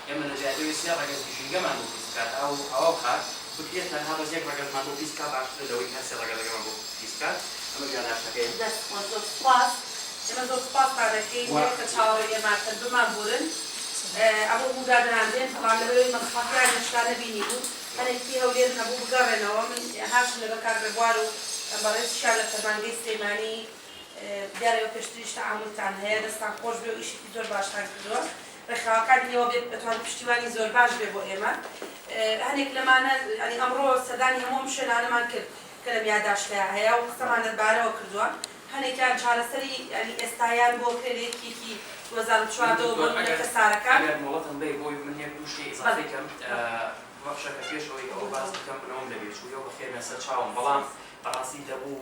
ئێمە لە جیاتی ئەوەی سێ ڕەگەز گژینگەمان بۆ پیس بکات ئاو و هەوا و خاک بکرێت تەنها بەس یەک ڕەگەزمان بۆ پیس بکات باشترە لەوەی کە هەر سێ ڕەگەزەکەمان بۆ پیس بکات ئەمە جیا ناشتەکەیە. دەست خۆش زۆر سوپاس ئێمە زۆر سوپاستان ئەکەین وە کە چاوەڕێی ئێمە ئەکەن بمان بورن ئەمە بوو دادەنان دێن بەڵام لەبەرئەوەی مەسڵەحەتیان هێشتا نەبینی بوو هەنێکی هەولێرن هەبوو بگەڕێنەوە من هاتم لەبەر کاک ڕێبوار و بەڕێزیشیان لە فەرمانگەی سلێمانی دیارە ئێوە پێشتریش تەعامولتان هەیە دەستتان خۆش بێ و ئیشێکی زۆر باشتان کردووە ڕێکخراوەکانی ئێوە بێت ئەتوانێت پشتیوانی زۆرباش بێت بۆ ئێمە هەنێک لەمانە یانی ئەمڕۆ سەردانی هەموو ئەم شوێنانەمان کرد کە لەم یاداشتەیا هەیە و قسەمان لەربارەوە کردووە هەنێکیان چارەسەری یانی ئێستایان بۆ کرێ لە یەکیەکی دوو هەزار و چواردە وە بۆ نمونە کەسارەکان. ئەگەر مۆڵەتم بەی بۆی من یەک دوو شتی ئیزافەی کەم بەخشە کە پێش ئەوەی ئەوە باس بکەم بنەوەم لەبیر چوویەوە بەخێرنە سەر چاوم بەڵام بەڕاستی دەبوو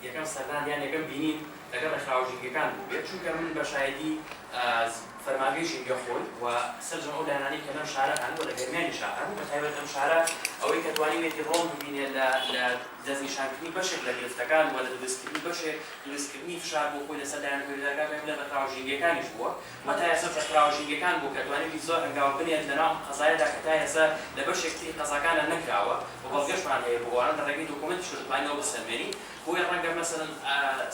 یەکەم سەردان یان یەکەم بینین لەگەڵ ڕێکخراوە ژینگەکان بووبێت، چونکە من بە شایەدی فەرمانگەی ژینگە خۆی و سەرجەم ئەو لایەنانەی کە لەم شارە هەن و لە گەرمیانیشا هەن، بە تایبەت ئەم شارە ئەوەی کە توانیویەتی ڕۆڵ ببینێت لە لە دەستنیشانکردنی بەشێک لە گرفتەکان و لە دروستکردنی بەشێک دروستکردنی فشار بۆ خۆی لەسەر لایەنە گەورەدارەکان، بێگومان ڕێکخراوە ژینگەکانیش بووە. وەتا ئێستا چەقیراوە ژینگەکان بوو کە توانیوی زۆر هەنگاو بنێت لەناو ئەم قەزایەدا کە تا ئێستا لە بەشێک تری قەزاکانا نەکراوە و بەڵگەشمان هەیە بۆ ئەوانە لە ڕێگەی دۆکۆمێنتیشەوە دەتوانینەوە بسەلمێنین بۆیە ڕەنگە مەسەلەن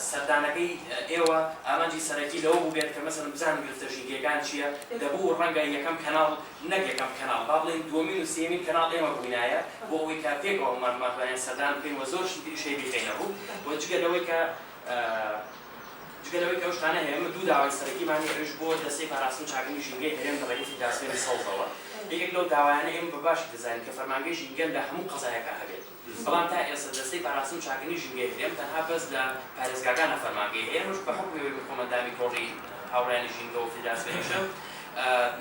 سەردانەکەی ئێوە ئامانجی سەرەکی لەوە بووبێت کە مەسەلەن بزانن گرفتە ژینگەیەکان چییە دەبوو ڕەنگە یەکەم کەناڵ نەک یەکەم کەناڵ با بڵێین دووەمین و سێیەمین کەناڵ ئێمە بووینایە بۆ ئەوەی کە پێکەوە هەموومان بمانتوانیان سەردان بکەین و زۆر شتی تریش هەیە بیخەینە ڕوو و جگە لەوەی کە جگە لەوەی کە ئەو شتانە هەیە، ئێمە دوو داوای سەرەکیمان هەیە، ئەویش بۆ دەستەی پاراستنی چاکبوونی ژینگەی هەرێم لە ڕێگەی فیدراسیۆنی سەوزەوە. یەکێک لەو داوایانە ئێمە بە باشی دەزانین کە فەرمانگەی ژینگە لە هەموو قەزایەکا هەبێت، بەڵام تا ئێستا دەستەی پاراستن و چاکردنی ژینگەی هەرێم تەنها بەس لە پارێزگاکانا فەرمانگەی هەیە، ئەمەش بە حوکمی ئەوەی من خۆمە ئەندامی تۆڕی هاوڕێیانی ژینگە و فیدراسیۆنیشم،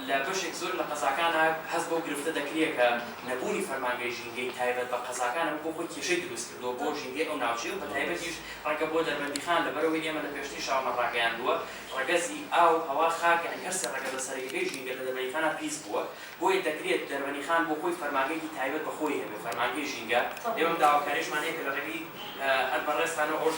لە بەشێک زۆر لە قەزاکانا هەست بەو گرفتە دەکرێ کە نەبوونی فەرمانگەی ژینگەی تایبەت بە قەزاکان ئەمە بۆ خۆی کێشەی دروست کردووە بۆ ژینگەی ئەو ناوچەیە و بە تایبەتیش ڕەنگە بۆ دەربەندیخان لەبەرئەوەی ئێمە لە پێشتریشامان ڕاگەیاندووە ڕەگەزی ئاو، هەوا، خاک یانی هەر سێ ڕەگەزە سەرەکیەکەی ژینگە لە دەربەندیخانا پیس بووە بۆیە دەکرێت دەربەندیخان بۆ خۆی فەرمانگەیەکی تایبەت بە خۆی هەبێ فەرمانگەی ژینگە ئێمەم داواکاریشمان هەیە کە لە ڕێگەی هەر بەڕێزتانەوە ئەوەش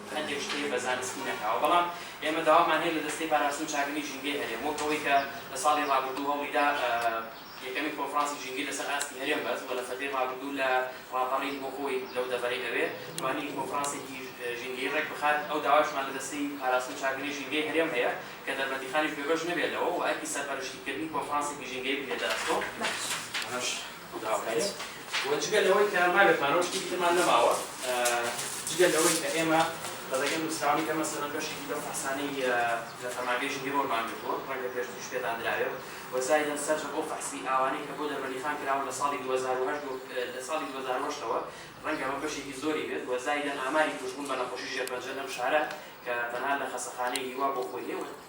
هەندێک شتێ بە زانستی نەکراوە، بەڵام ئێمە داوامان هەیە لە دەستەی پاراستن و چاکردنی ژینگەی هەرێم، وەک ئەوەی کە لە ساڵی ڕابردوو هەوڵیدا یەکەمین کۆنفرانسی ژینگەی لەسەر ئاستی هەرێم بەست و لە سەدەی ڕابردوو لە ڕاپەڕین بۆ خۆی لەو دەڤەرەی ئەوێ توانی کۆنفرانسێکی ژینگەی ڕێک بخات، ئەو داوایشمان لە دەستەی پاراستن و چاکردنی ژینگەی هەرێم هەیە کە دەربەندیخانیش بێبەش نەبێ لەوە و ئەرکی سەرپەرشتیکردنی کۆنفرانسێکی ژینگەی بگرێتە ئەستۆ. دراوهەیە و جگە لەوەی کە ماوێکمانەوە شتێکی ترمان نەماوە جگە لەوەی کە ئێمە لە ڕێگەی نووسراوەی کە مەسەلەن بەشێکی لەو فەحسانەی لە فەرمانگەی ژینگەی بۆرمان گرتووە ڕەنگە پێشتریش پێتان درابێ و زایدەن سەرجەم ئەو فەحسی ئاوانەی کە بۆ دەربەندیخان کراون لە ساڵی دوو هەزار و هەشت و لە ساڵی دوو هەزار و هەشت ەوە ڕەنگە ئەمە بەشێکی زۆری بێت و زایدەن ئاماری تووشبوون بە نەخۆشی ژێرپەنجە لەم شارە کە تەنها لە خەسەخانەی هیوا بۆ خۆی هەیە و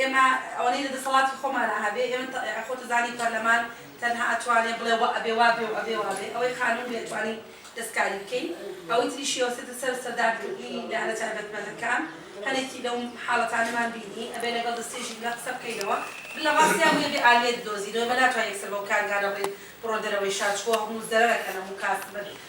ئێمە ئەوەنەی لە دەسەڵاتی خۆمانا هەبێ ئێمە تە ئێ خۆتت زانی پەرلەمان تەنها ئەتوانێ بڵێ وە ئەبێ وا بێ و ئەبێ وا بێ ئەوەی قانون بێ ئەتوانین دەستکاری بکەین ئەوەی تریش شێوەسەتە سەر سەردار کردنی لایەنە تایبەتمەندەکان هەنێکی لەو حاڵەتانەمان بینی ئەبێ لەگەڵ دەستەی ژینگە قسە بکەینەوە لە ڕاستیا بوویە بێ ئالیەت بدۆزینەوە ئێمە ناتوانین یەکسەر بەو کارگانە بڵێین بڕۆ دەرەوەی شار چکۆ هەموو زەرەرەکە لەموو کاس بن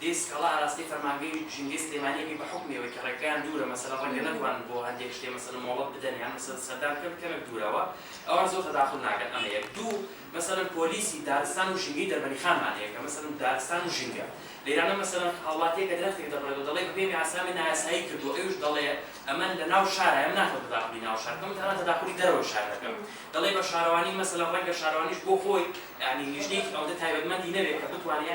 دەی سکاڵا ئاراستەی فەرمانگەی ژینگەی سلێمانی ئەکەی بە حوکمی ئەوەی کە ڕێگەکەیان دوورە مەسەلەن ڕەنگە نەتوانن بۆ هەندێک شتێ مەسەلەن مۆڵەت بدەن یان مەسەلەن سەردان بکەن کەمێک دوورەوە ئەوان زۆر تەداخول ناکەن ئەمە یەک دوو مەسەلەن پۆلیسی دارستان و ژینگەی دەربەنیخانمان هەیە کە مەسەلەن دارستان و ژینگە لێرانە مەسەلەن هاوڵاتییە کە درەختێک دەبڕێت و دەڵێ بەپێی مەیاسنامەی نایاسایی کردووە ئەویش دەڵێ ئەمە لە ناو شارایە من ناتوانم تەداخولی ناو شار بکەم من تەنها تەداخولی دەرەوەی شار دەکەم دەڵێ بە شارەوانی مەسەلەن ڕەنگە شارەوانیش بۆ خۆی یانی لیژنەیەکی ئەوەندە تایبەتمەندی نەبێت کە بتوانێ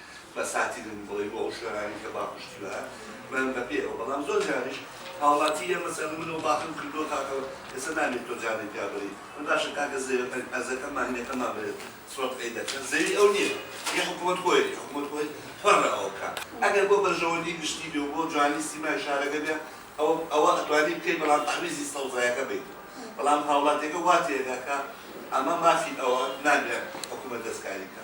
بەساتی دەبوو بڵێی بۆ ئەو شوێنانەی کە با پشتی وایە بەن بە پێ ئەوە بەڵام زۆر جاریش هاوڵاتی یە مەسەلەن من و باخم کردووە کاکە ئێستا نابێ تۆ جامەی پیا بەری من باشە کاکە زەویەکە ئەرزەکە ماهینەکەمان بەرێ سوەت قەی دەکەن زەوی ئەو نیە یە حکومەت خۆی ئەکەی حکومەت خۆی پەڕە ئەوە بکا ئەگەر بۆ بەرژەوەندی گشتی بێ و بۆ جوانی سیمای شارەکە بێ ئەوە ئەوە ئەتوانی بکەی بەڵام تەعویزی سەوزایەکە بەی بەڵام هاوڵاتیەکە وا تێ ئەگا کە ئەمە مافی ئەوە نابێ حکومەت دەسکاری بکا.